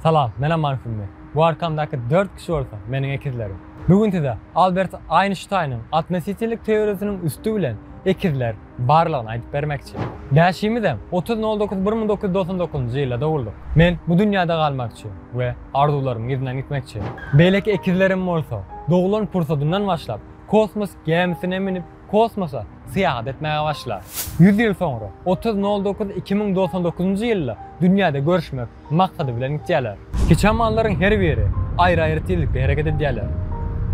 Salam, men Aman Sümmi. Bu arkamdaky dört kişi bolsa, meniň ekizlerim. Bu gün size Albert Aýnştaýnyň atnositellik teoriýasynyň üsti bilen ekizler barlygyny aýdyp bermekçi. Bäşimizem otuz nol dokuz bir müň dokuz ýüz dogsan dokuzynjy ýylda doguldyk. Men bu dünýäde galmakçy we arzuwlarymyň yzyndan gitmekçi. Beýleki ekizlerim bolsa, doglan pursadyndan başlap, kosmos gemisine münüp, kosmosa syýahat etmäge başlar. Ýüz ýyl soňra, otuz nol dokuz iki müň doksan dokuzynjy ýylda dünýäde görüşmek maksady bilen gidýärler. Kiçamanlaryň her biri aýry-aýry tizlikde hereket edýärler.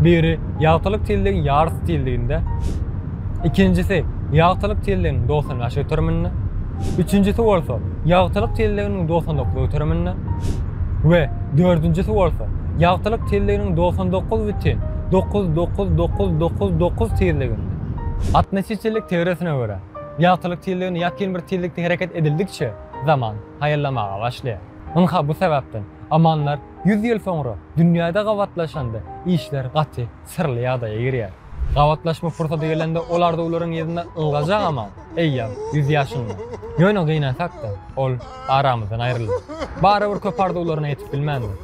Biri ýagtylyk tizligiň ýarysy tizliginde, ikinjisi ýagtylyk tizliginiň dogsan bäş göteriminde, üçünjisi bolsa ýagtylyk tizliginiň dogsan dokuz göteriminde we dördünjisi bolsa ýagtylyk tizliginiň dogsan dokuz bütin dokuz, dokuz, dokuz, dokuz, dokuz tizliginde. Atnositellik teoriýasyna görä, ýagtylyk tizligini ýakyn bir tizlikde hereket edildikçe, zaman haýallamaga başlaýar. Ynha bu sebäpden, amanlar ýüz ýyl soňra dünýäde gabatlaşanda işler gaty syrly ýagdaýa girýär. Gabatlaşma pursady gelende ol arzuwlaryň yzynda ylgajak aman, eýýäm ýüz ýaşynda. Ýöne gynansak-da, ol aramyzdan aýryldy. Barybir köp arzuwlaryna ýetip bilmändir.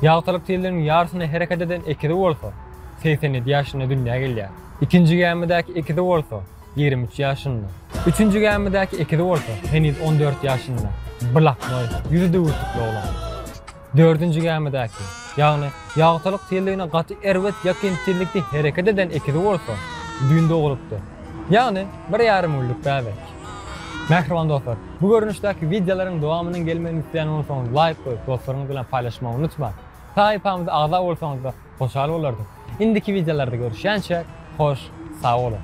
Ýagtylyk ýylynyň ýarysyna hereket eden ekizi bolsa, segsen ýedi ýaşynda dünýä gelýär. Ikinji gämidäki ekizi bolsa, ýigrimi üç ýaşynda. Üçünji gämidäki ekizi bolsa, heniz on dört ýaşynda, bylaknoý, ýüzi düwürtikli oglan. Dördünji gämidäki, ýagny ýagtylyk ýylyna gaty erbet ýakyn tizlikde hereket eden ekizi bolsa, düýn doglupdyr. Ýagny bir ýarym günlük bäbek. Mähriban dostlar, bu görnüşdäki wideolaryň dowamynyň gelmegini isleýän bolsaňyz laýk goýup, dostlaryňyz bilen paýlaşmagy unutmaň. Sahypamyza agza bolsaňyzda hoşal bolardyk. Indiki wideolarda görüşýänçäk, hoş, sag boluň!